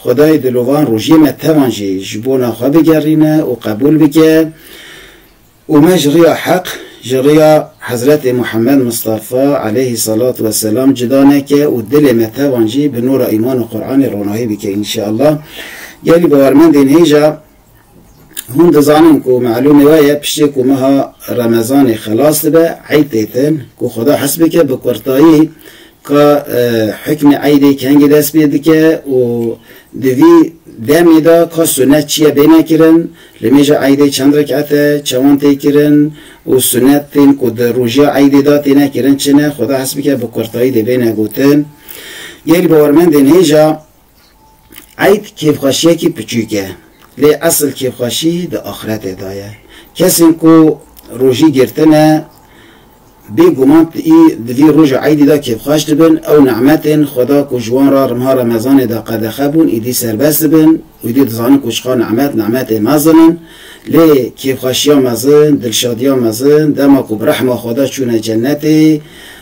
Xwedayê dilovan rojiyê me tevan jî ji bona xwe bigerîne û qebûl bike û me ji riya heq, ji riya Hezretê Muhammed Mistafa aleyhî selat we selam cida neke û dilê me tevan jî bi nûra îman û Quranê ronahî bike înşeallah. Gelî bawermendên hêja. Hûn dizanin ku malûmê we ye piştî ku meha Remezanê xelas dibe eyd tê din ku Xweda hes bike bi kurtayî ka hukmê eydê kengî dest pê dike û di vî demê de ka sunet çi ye bêne kirin, li mêja eydê çend rekete, çewan tê kirin û sunetên ku di rojiya eydê de têne kirin çi ne, Xweda hes bike bi kurtayî dê bêne gotin. Gelî bawermendên hêja Eyd kêfxweşiyekî piçûk e, lê esil kêfxweşî di axiretê de ye. Kesên ku rojî girtine bê guman di vî roja eydî de kêfxweş dibin, ew nimetên Xweda ku ji wan re riha remezanê de qedexe bûn îdî serbest dibin û îdî dizanin ku çiqas nimet, nimetê mezin in. Lê kêfxweşiya mezin, dilşadiya mezin dema ku bi rehma Xweda çûne cenetê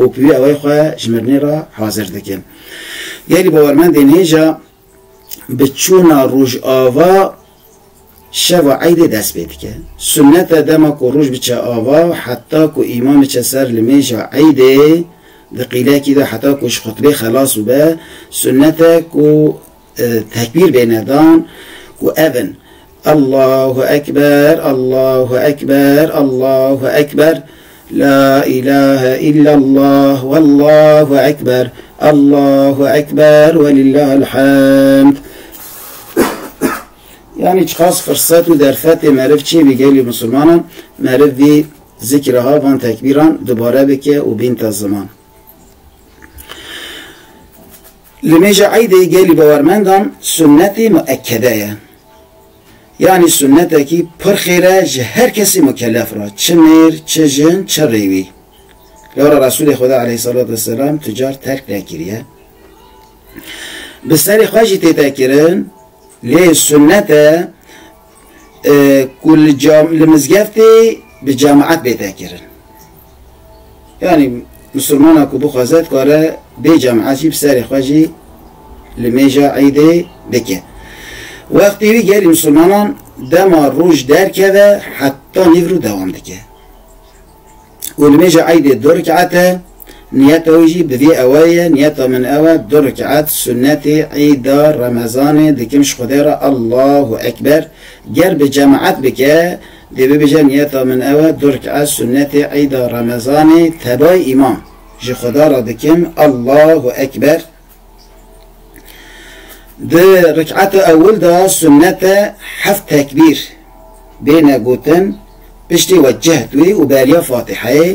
û bi wî awayî xwe ji mirinê re hazir dikin. Gelî bawermendên hêja bi çûna rojava şeva eydê dest pê dike. Sunet e dema ku roj biçe ava heta ku îmam biçe ser li mêja eydê di qîlekî de heta ku ji xutbê xelas bibe, sunet e ku Tekbîr bêne dan û ev in, Allahu ekber, Allahu ekber, Allahu ekber, La îlahe îllallah, Wallahu ekber, Allahu ekber ve lillahil hamd. Yani çiqas fırsat û derfetê meriv çê bî gelî musulmanan, meriv vî zikra ha van tekbîran dubare bike û bînta ziman. Li mêja eydê gelî bawermendan sunnetê muekede ye. Yanî sunnetekî pir xêr e ji her kesî mukelef re, çi mêr, çi jin, çi rêwî. Lewra Resûlê Xweda eleyhîsselatû wesselam tu car terk nekiriye. Bi serê xwe jî têtekirin, lê sunnet e, ku li cam li mizgeftê bi cemaet bê vekirin. Yanî misilmana ku bixwaze dikare bê cemaet jî bi serê xwe jî li mêja îdê bike. Wextê wî gelî misilmanan dema roj derkeve heta nîvro dewam dike. û nimêja eydê du rik'et e, niyeta wî jî bi vê ewe ye, niyeta min ew e, du rik'et sunnetê eyda remezanê dikim ji Xwedê re Allahu ekber, ger bi cemaet bike dê bibêje niyeta min ew e, du rik'et sunnetê eyda remezanê tebayî îmam ji Xweda re dikim Allahu ekber, Di rik'ata ewil de sunnet e heft tekbîr bêne gotin piştî we cehd wî û beriya Fatîheyê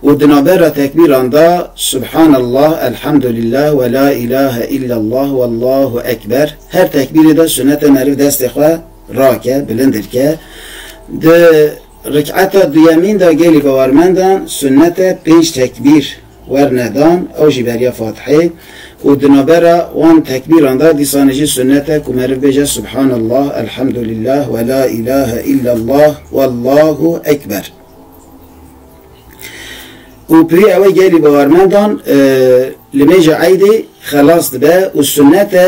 û di navbera tekbîran de Subhanallah, Elhamdulillah we la îlahe îllallah wallahu ekber her tekbîrê de sunnet e meriv destê xwe rake, bilindir ke. Di rik'ata duyemîn de gelê bawermendan sunnet e pênc tekbîr werne dan ew jî beriya Fatihê û di navbera wan tekbîran de dîsanê jî sunnet e ku meriv bêje Subhanallah, Elhamdulillah we la îlahe îllallah wallahu ekber. Û pirî ew e gelî bawermendan li mêja eydê xelas dibe û sunnet e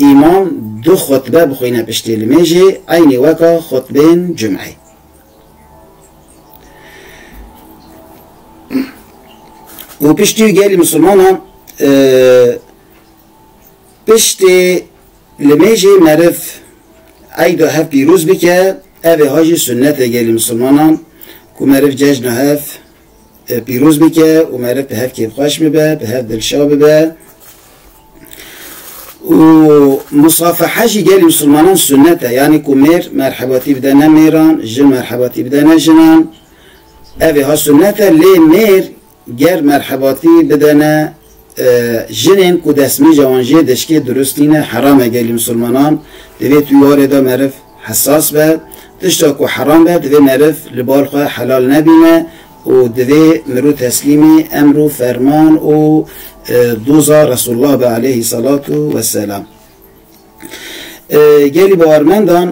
îmam du xutbe bixwîne piştî li mêjê eynî weka xutbên cumeyê. û piştî wî gelê misilmanan piştê li mêjê meriv eyda hev pîroz bike ev ê ha jî sunnetê gelê misilmanan ku meriv cejna hev Pîroz bike û mere bi hev kêfxweş bibe, bi hev dilşa bibe. Û musafeha jî gelê misilmanan sunnet e. Yanî ku mêr merhebatî bide ne mêran, jin merhebatî bide ne jinan. Evê ha sunnet e lê mêr ger merhebatî bide ne Jinên ku destmîja wan jê deşkê dirust tîne heram e gelî misilmanan divê tu warê de meriv hesas be. Tişta ku heram be divê meriv li bal xwe helal nebîne û divê mirû teslîmî emr û ferman û doza Resulullah be aleyhî selatu weselam. Gelî bawermendan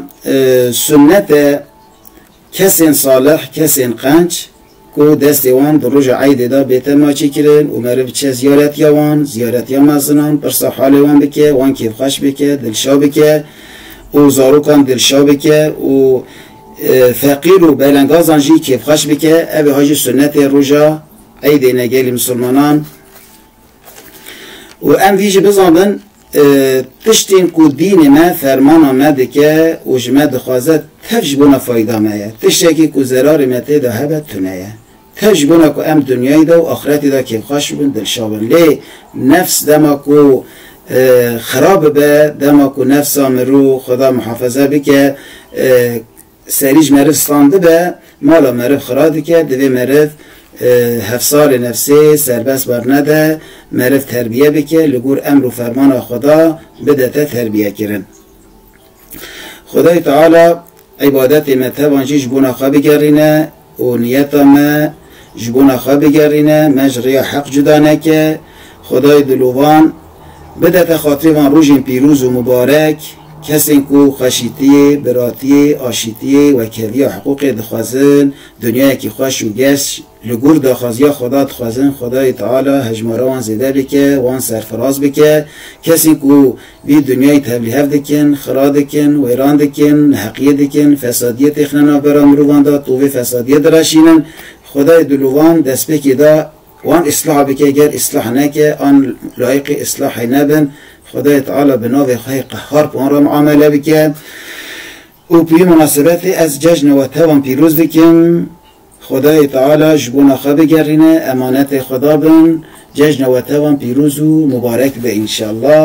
sunnet e Kesên salih, kesên qenc ku destê wan di roja eydê de bê tenma çêkirin û meriv biçe ziyaretiya wan, ziyaretiya mezinan, pirsa halê wan bike, wan kêfxweş bike, dilşa bike û zarokan dilşa bike û feqîr û belengazan jî kêfxweş bike, ev ê ha jî sunnetê roja eydê ne gelê misilmanan û em vî jî bizanbin. Tiştên ku dînê me fermana me dike û ji me dixwaze tev ji bona fayda me ye. Tiştekî ku zerarê me tê de hebe tune ye. Tev ji bona ku em dinyayê de û axretê de kêfxweş bibin, dilşa bin. Lê nefs dema ku xerab bibe, dema ku nefsa mirov, Xweda mihafeze bike, Serî ji meriv stan dibe, mala meriv xira dike, divê meriv hevsarê nefsê serbest wernede, meriv terbiye bike, li gor emr û fermana Xweda bidete terbiyekirin. Xwedayê Teala îbadetê me tevan jî ji bona xwe bigerîne, û niyeta me ji bona xwe bigerîne, me ji rêya heq cuda neke, Xwedayê Dilûvan bidete xatirê van rojên pîrûz û mibarek, kesên ku xweşîtiyê, biratiyê, aşîtiyê, wekheviya hiqûqê dixwezin, dinyayekî xweş û geş li gor daxwaziya Xweda dixwezin, Xwedayê Teala hejmara wan zêde bike, wan serfiraz bike, kesên ku. Vî dinyayî tevlîhev dikin, xira dikin, wêran dikin, neheqiyê dikin, fesadiyê têxine navbera mirovan de tovê fesadiyê diraşînin. Xwedayê dilovan destpêkê da wan îslah bike ger îslah neke an layiqê îslahê nebin Xwedayê Teala bi navê xwehê qehhar bi wan re miamele bike. Û bi vî minasebetê ez cejna we te wan pîroz dikim. Xwedayê Teala ji bona xwe bigerîne, emanetê xwe dabin, cejna we te wan pîroz û mubarek be înşallah.